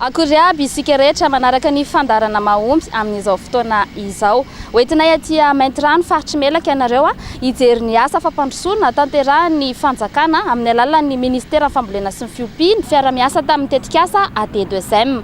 Akory aby isika rehetra manaraka ny fandaharana mahomby amin'izao fotoana izao. Hoentinay aty Maintirano, faritry Melaky ianareo hijery ny asa fampandrosoana tanterahin'ny fanjakana amin'ny alalan'ny Ministeran'ny Fambolena sy ny Fiompiana, fiara-miasa tamin'ny tetikasa AD2M.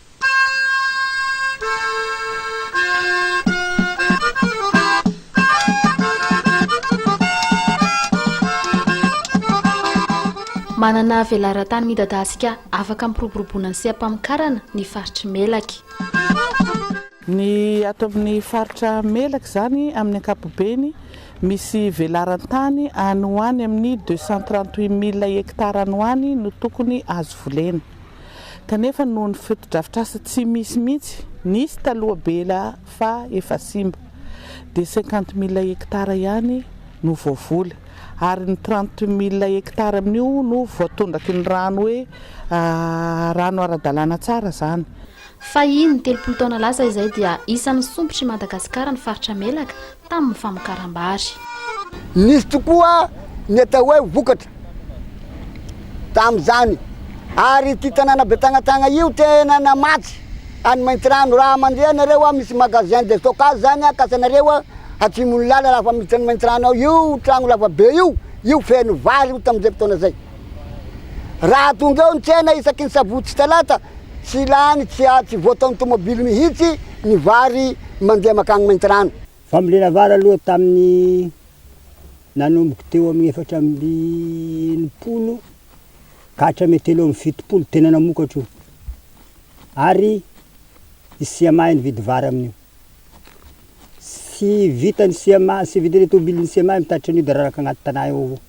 Manana velaran-tany midadasika afaka hampiroboroboana ny seha-pamokarana ny faritr'i Melaky. Ny ato amin'ny faritra Melaky izany amin'ny ankapobeny, misy velaran-tany any ho any amin'ny deux cent trente-huit mille hectares any ho any no tokony azo volena. kanefa noho ny fotodrafitrasa tsy misy mihitsy nisy taloha be la fa efa simba dia cinquante mille hectares ihany no voavoly ary ny trente mille hectares amin'io no voatondraky ny rano hoe rano ara-dalàna tsara izany. Fahiny, telopolo taona lasa izay dia isan'ny sompitry Madagasikara ny faritra Melaka tamin'ny famokaram-bary. Nisy tokoa ny atao hoe vokatra tamin'izany ary ity tanàna Betagnatagna io tena namatsy an'i Maintirano. Raha mandeha ianareo, misy magasin de stockage izany kasanareo atsimon'ny lalana, raha afa-miditra an'i Maintirano ao, io trano lavabe io, io feno vary io tamin'izay fotoana izay. Raha tonga eo ny tsena isaky ny sabotsy sy talata, tsy lany, tsy a, tsy voataon'ny tomobily mihitsy ny vary mandeha makany Maintirano. Fambolena vary aloha tamin'ny nanomboka teo amin'ny efatra amby enimpolo ka hatramin'ny telo amby fitopolo, tena namokatra io. Ary i CMA nividy vary amin'io. Tsy vitan'ny CMA, tsy vitan'ny tomobilin'ny CMA mitatitra an'io dia raraka agnaty tanà eo avao.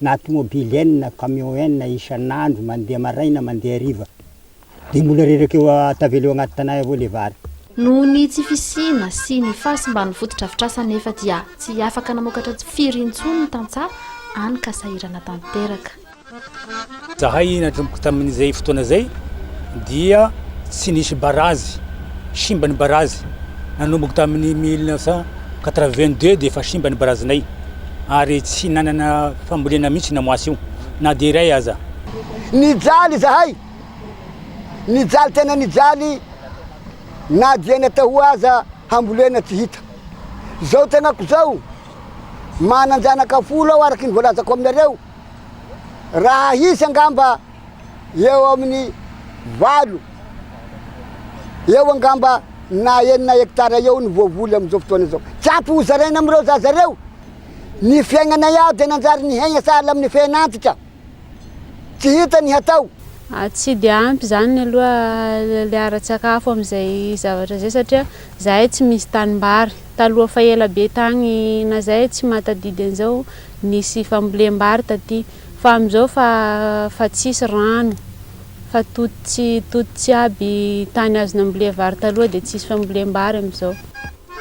na tomobily enina na camion enina isan'andro mandeha maraina mandeha hariva dia mbola reraka eo tavela eo anaty tanà eo avao ilay vary. Noho ny tsy fisiana sy ny fahasimban'ny fotodrafitrasa anefa dia tsy afaka namokatra firy intsony ny tantsaha any ka sahirana tanteraka. Zahay nanomboka tamin'izay fotoana izay dia tsy nisy barazy, simba ny barazy, nanomboka tamin'ny mille neuf cent quatre-vingt-deux dia efa simba ny barazinay ary tsy nanana fambolena mihitsy namoasy io na dia iray aza. Nijaly izahay, nijaly tena nijaly na dia ny atahoa aza hambolena tsy hita. Izao tenako izao, manan-janaka folo aho araka ny voalazako aminareo. Raha hisy angamba eo amin'ny valo eo angamba na enina hectare eo ny voavoly amin'izao fotoana izao. Tsy ampy ho zaraina amin'ireo zaza ireo. Ny fiainanay aho dia nanjary nihaina sahala amin'ny fiainantsika. Tsy hita ny hatao. Tsy dia ampy izany aloha ilay ara-tsakafo amin'izay zavatra izay satria izahay tsy misy tanimbary. Taloha fa ela be tany na izay tsy mahatadidy an'izao. Nisy fambolem-bary taty fa amin'izao fa fa tsisy rano fa tototsy tototsy aby tany azo nambolia vary taloha dia tsisy fambolem-bary amin'izao.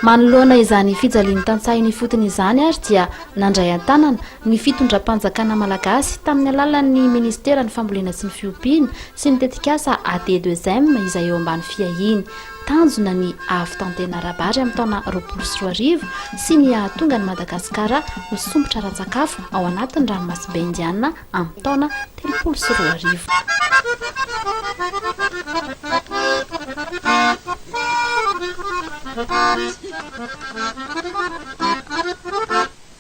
Manoloana izany fijalian'ny tantsaha eny ifotony izany ary dia nandray an-tanana ny fitondram-panjakana malagasy tamin'ny alalan'ny ministeran'ny fambolena sy ny fiompiana sy ny tetikasa ADEDEUSEM izay eo ambany fiahiany Tanjona ny hahavitantena ara-bary amin'ny taona roapolo sy roa arivo sy ny hahatonga an'i Madagasikara ho sompitra ara-tsakafo ao anatin'ny ranomasimbe Indiana amin'ny taona telopolo sy roa arivo.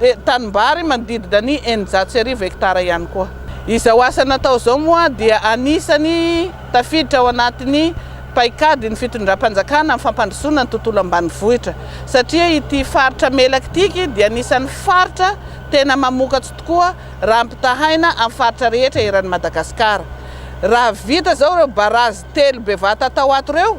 dia tanimbary manodidina ny eninjato sy arivo hektara ihany koa. Izao asa natao izao moa dia anisany tafiditra ao anatin'ny paikadin'ny fitondram-panjakana amin'ny fampandrosoana ny tontolo ambanivohitra satria ity faritra Melaky ity dia anisan'ny faritra tena mamokatso tokoa raha ampitahaina amin'ny faritra rehetra eran'i Madagasikara. Raha vita izao ireo barazy telo bevata atao ato ireo,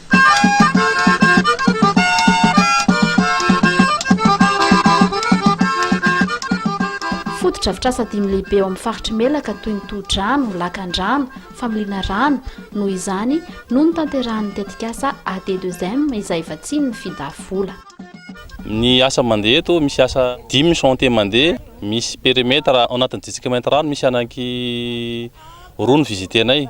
Fotodrafitrasa dimy lehibe ao amin'ny faritr'i Melaka toy ny tohodrano, lakandrano, familiana rano, noho izany no notanterahan'ny tetikasa AD2M izay vatsian'ny finda vola. Ny asa mandeha eto, misy asa dimy chantier mandeha, misy perimetre ao anatin'ny district Maintirano, misy anaky roa ny visiter-nay.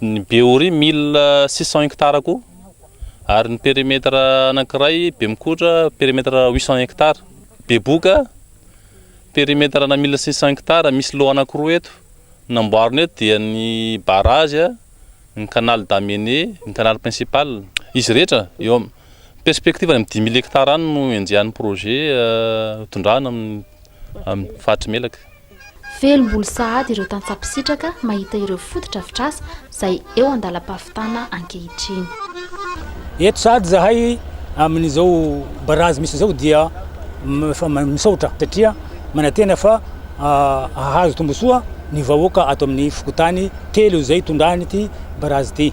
Ny Behoria mille six cent hectares koa ary ny perimetre anankiray Bemikotra perimetre huit cent hectares. Beboka perimetre ana mille six cent hectares misy lot anankiroa eto. Ny namboarina eto dia ny barrage, ny canal d'amener, ny canal principal. Izy rehetra eo am, perspective any am dimy mille hectares any no enjehan'ny projet tondrahana amin'ny faritry Melaky. Velom-bolo sahady ireo tantsaha mpisitraka mahita ireo fotodrafitrasa izay eo an-dalam-pahavitana ankehitriny. Eto sahady izahay amin'izao barazy misy izao dia efa misaotra satria manantena fa hahazo tombontsoa ny vahoaka ato amin'ny fokontany telo izay itondran'ity barazy ity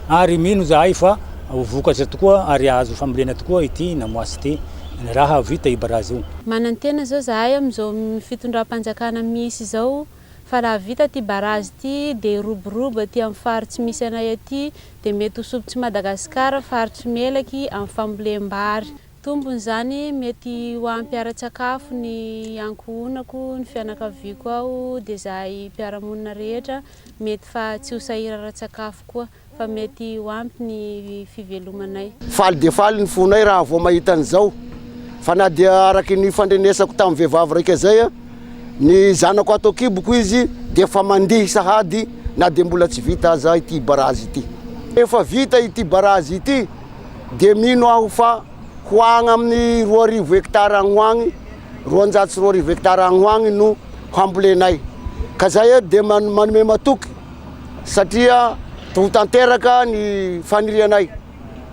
ary mino izahay fa ho vokatra tokoa ary hahazo fambolena tokoa ity namoasy ity. ny raha vita i Brazil. Manantena zao zahay amin'izao fitondram-panjakana misy izao fa raha vita ty barazy ty dia hiroborobo aty amin'ny fary tsy misy anay aty dia mety ho sopitr'i Madagasikara faritry Melaky amin'ny fambolem-bary. Tombony izany mety ho ampy ara-tsakafo ny ankohonako, ny fianakaviako ao dia zahay mpiara-monina rehetra mety fa tsy ho sahira ara-tsakafo koa. fa mety ho ampy ny fivelomanay. Faly dia faly ny fonay raha vao mahita an'izao, fa na dia araka ny nifandrenesako tamin'ny vehivavy raika izay, ny zanako ato an-kiboko izy dia efa mandihy sahady na dia mbola tsy vita aza ity barazy ity. Rehefa vita ity barazy ity dia mino aho fa ho agny amin'ny roa arivo hectare agny ho agny, roanjato sy roa arivo hectare agny ho agny no hambolenay, ka zay dia manome matoky. satria ho tanteraka ny fanirianay.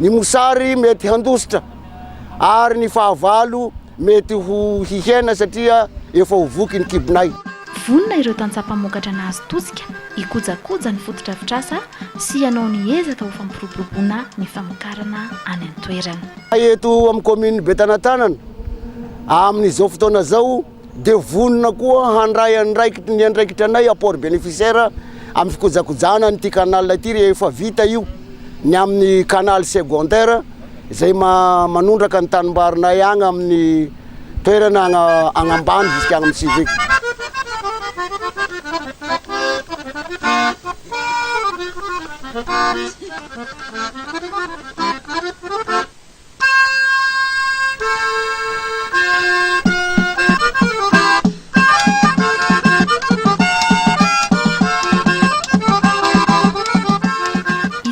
Ny mosary mety handositra ary ny fahavalo mety ho hihena satria efa ho voky ny kibonay. Vonona ireo tantsaha mpamokatra nahazo tosika hikojakoja ny fotodrafitrasa sy hanao ny ezaka ho fampiroboroboana ny famokarana any an-toerana. Eto amin'ny kaominin'i Betanatanana amin'izao fotoana izao, dia vonona koa handray andraikitry ny andraikitra anay apport bénéficiaire amin'ny fikojakojana an'ity canal ity rehefa vita io ny amin'ny canal secondaire izay manondraka ny tanimbarinay agny amin'ny toerana agna agnambany jusqu'à agny amin'ny civique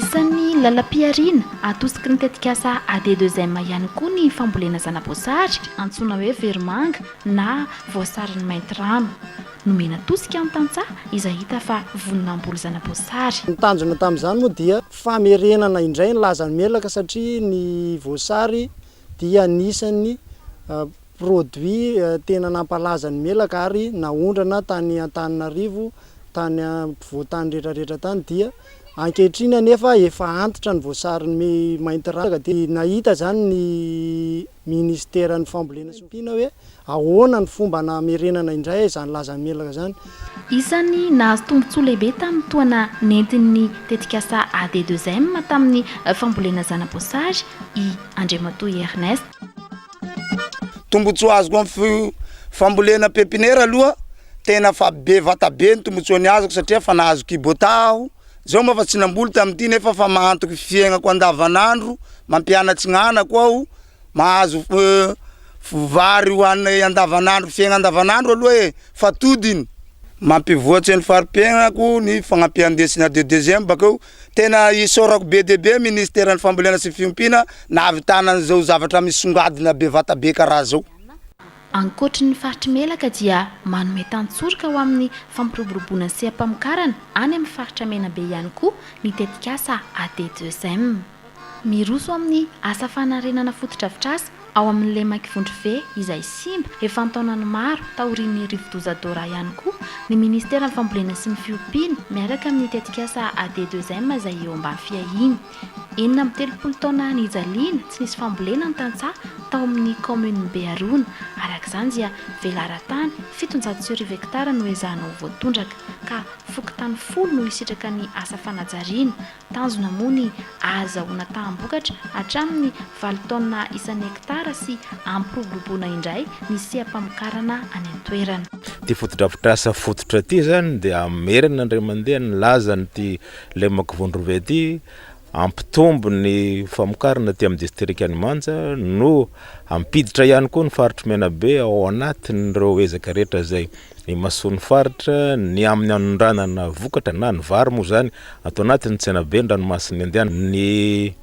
Isan'ny lalam-pihariana atosiky ny tetikasa AD2M ihany koa ny fambolena zana-boasary antsoina hoe verimanga na voasarin'ny maintirano. Nomena tosika ny tantsaha izay hita fa vonona hamboly zana-boasary. Ny tanjona tamin'izany moa dia Famerenana indray ny lazan'ny melaka satria ny voasary dia anisan'ny produit tena nampalaza ny melaka ary naondrana tany Antananarivo tany ampovoan-tany retraretra tany dia ankehitriny anefa efa antitra ny voasary mainty raraka dia nahita izany ny ministeran'ny fambolena sy ompiana hoe Ahoana ny fomba namerenana indray izany lazan'ny menaka izany? Isan'ny nahazo tombontsoa lehibe tamin'ny tohana nentin'ny tetikasa AD2M tamin'ny fambolena zana-boasary i Andriamatoa Ernest. Tombontsoa azoko amin'ny fambolena pepinera aloha tena fa be vata be ny tombontsoa niazoko satria efa nahazo Kubota aho, izao moa efa tsy namboly tamin'ity nefa efa mahantoky fiaignako andavanandro, mampianatry ny anako aho. Mahazo vary hohanina andavanandro, fiaigna andavanandro aloha e, fatodiny. Mampivoatse ny fari-piaignako ny fagnampian-desina de deuxième bakeo. Tena isaorako be dia be Ministeran'ny fambolena sy fiompiana nahavitana an'izao zavatra misongadina bevata be karaha zao. Ankoatry ny faritr'i Melaka dia manome tantsoroka ho amin'ny fampiroboroboana ny seha-pamokarana any amin'ny faritra Menabe ihany koa ny tetikasa ADDeuxième. Miroso amin'ny asa fanarenana fotodrafitrasa ao amin'ny Lemaky Vondrove izay simba efa an-taonany maro taorian'ny rivodoza Dora ihany koa ny ministeran'ny fambolena sy ny fiompiana miaraka amin'ny tetikasa AD2M izay eo ambany fiahiany enina amby telopolo taona nijaliana tsy nisy fambolena ny tantsaha tao amin'ny kaominina Beharona araka izany dia velaran-tany fitonjato sy arivo hektara no ezahana ho voatondraka ka fokontany folo no hisitraka ny asa fanajariana Tanjona moa ny ahazahoana taham-bokatra hatramin'ny valo taonina isan'ny hektara sy hampiroboroboana indray ny seha-pamokarana any an-toerana. Ity fotodrafitrasa fototra ity izany dia hamerina indray mandeha ny lazan'ity lemaka voan-drova ity, hampitombo ny famokarana aty amin'ny distrikan'i Manja no hampiditra ihany koa ny faritr'i Menabe ao anatin'ireo ezaka rehetra izay Ny masoan'ny faritra, ny amin'ny anondranana vokatra na ny vary moa izany ato anatin'ny tsenaben'ny ranomasin'ny Indiana, ny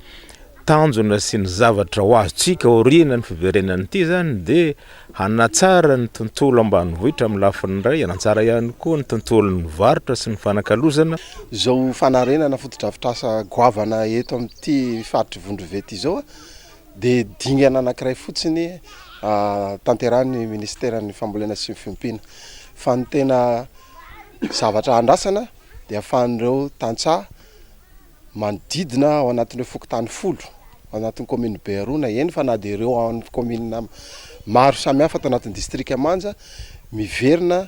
tanjona sy ny zavatra ho azontsika aorianan'ny fiverenan'ity izany dia hanatsara ny tontolo ambanivohitra amin'ny lafiny iray, hanatsara ihany koa ny tontolon'ny varotra sy ny fanakalozana. Izao fanarenana fotodrafitrasa goavana eto amin'ity faritr'i Vondrova ity izao, dia dingana anankiray fotsiny tanterahin'ny Minisiteran'ny Fambolena sy ny Fiompiana. Fa ny tena zavatra andrasana dia ahafahan'ireo tantsaha manodidina ao anatin'ireo fokontany folo ao anatin'ny kaominina Beharona, eny fa na dia ireo ao amin'ny kaominina maro samihafa ato anatin'ny distrika Manja miverina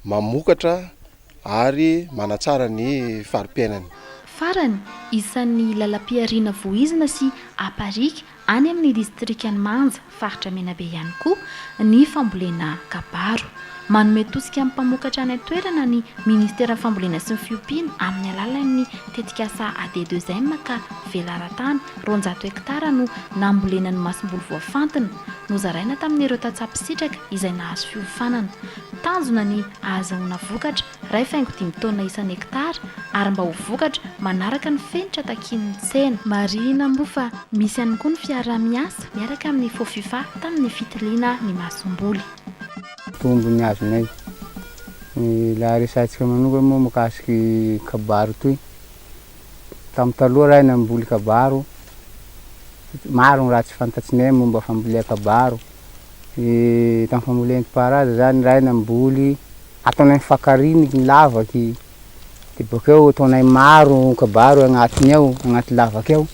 mamokatra. ary manatsara ny fari-piainany. Farany, isan'ny lalam-pihariana voizina sy aparika any amin'ny distrikan'i Manja, faritra Menabe ihany koa ny fambolena kabaro. Manome tosika amin'ny mpamokatra any an-toerana ny minisiteran'ny Fambolena sy ny fiompiana amin'ny alalan'ny tetikasa AD2M ka velaran-tany roanjato hektara no nambolena ny masomboly voafantina nozaraina tamin'ireo tantsaha mpisitraka izay nahazo fiofanana. Tanjona ny ahazahoana vokatra iray faingo dimy taonina isan'ny hektara ary mba ho vokatra manaraka ny fenitra takian'ny tsena. Marihina moa fa misy ihany koa ny fiaraha-miasa miaraka amin'ny Fofifa tamin'ny fitiliana ny masomboly. Tombony azonay. Ny ilay resahantsika manokana moa mikasika ny kabaro ity. Tamin'ny taloha raha namboly kabaro, maro ny raha tsy fantatsinay momba fambolean-kabaro. tamin'ny famolentpaharaza zany raha aina mboly ataonay fakariny ny lavaky de bokeo ataonay maro kabaro agnatiny ao agnaty lavaka ao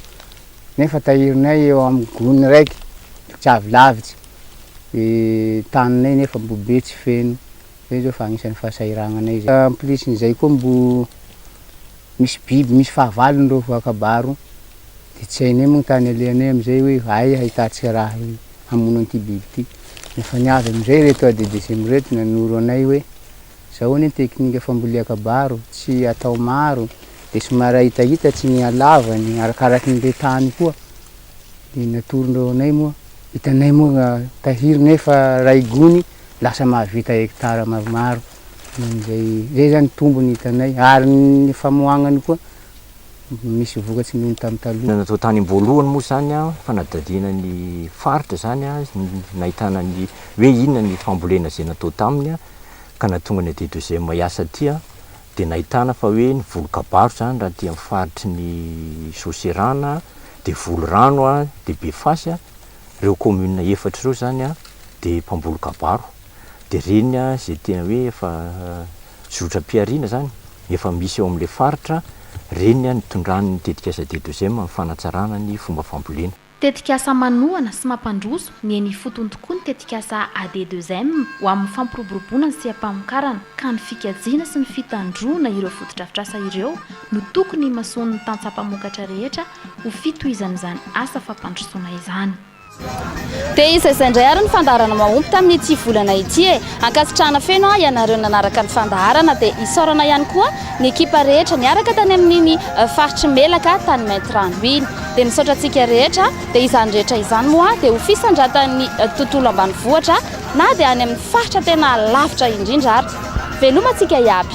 nefa tahirinay eo amin'ny gony raiky tsy avy lavitsy de taninay nefa mbo be tsy feno zay zao fa agnisan'ny fahasahiragnanay zay en plus n'izay koa mbo Misy biby misy fahavalony ireo voakabaro dia tsy hainay moa ny tany alehanay amin'izay hoe aiza hahitantsika raha hamono an'ity biby ity. Efa niavy amin'izay ireto ADDSM ireto nanoro anay hoe izao anie ny teknika fambolean-kabaro, tsy atao maro dia somary ahitahitatry ny halavany arakaraky ny le tany koa. Dia natorondreo anay moa, hitanay moa tahiry nefa iray gony lasa mahavita hectare maromaro. Amin'izay, izay izany tombony hitanay, ary ny famoahanany koa misy vokatry noho ny tamin'ny taloha. Natao tany am-boalohany moa izany an, fanadihadiana ny faritra izany an, nahitana ny hoe inona ny fambolena izay natao taminy an, ka nahatonga ny AD deuxième hiasa aty an, dia nahitana fa hoe ny voly kabaro izany raha aty amin'ny faritry ny Soserana an, dia voly rano an, dia Befasy an, ireo commune efatra ireo izany an, dia mpamboly kabaro. dia ireny izay tena hoe efa zotram-pihariana izany, efa misy eo amin'ilay faritra, ireny no tondran'ny tetikasa Dedozem amin'ny fanatsarana ny fomba fambolena. Tetikasa manohana sy mampandroso ny eny ifotony tokoa ny tetikasa ADEDEUZEM ho amin'ny fampiroboroboana ny seha-pamokarana, ka ny fikajiana sy ny fitandroana ireo fotodrafitrasa ireo no tokony himasoan'ny tantsaha mpamokatra rehetra ho fitohizan'izany asa fampandrosoana izany. Dia iza izay indray ary ny fandaharana mahomby tamin'ity volana ity e! Ankasitrahana feno aho ianareo nanaraka ny fandaharana dia isaorana ihany koa ny ekipa rehetra niaraka tany amin'iny faritr'i Melaka tany Maintirano iny. Dia misaotra antsika rehetra dia izany rehetra izany moa dia ho fisandratan'ny tontolo ambanivohitra na dia any amin'ny faritra tena lavitra indrindra ary. Veloma antsika iaby.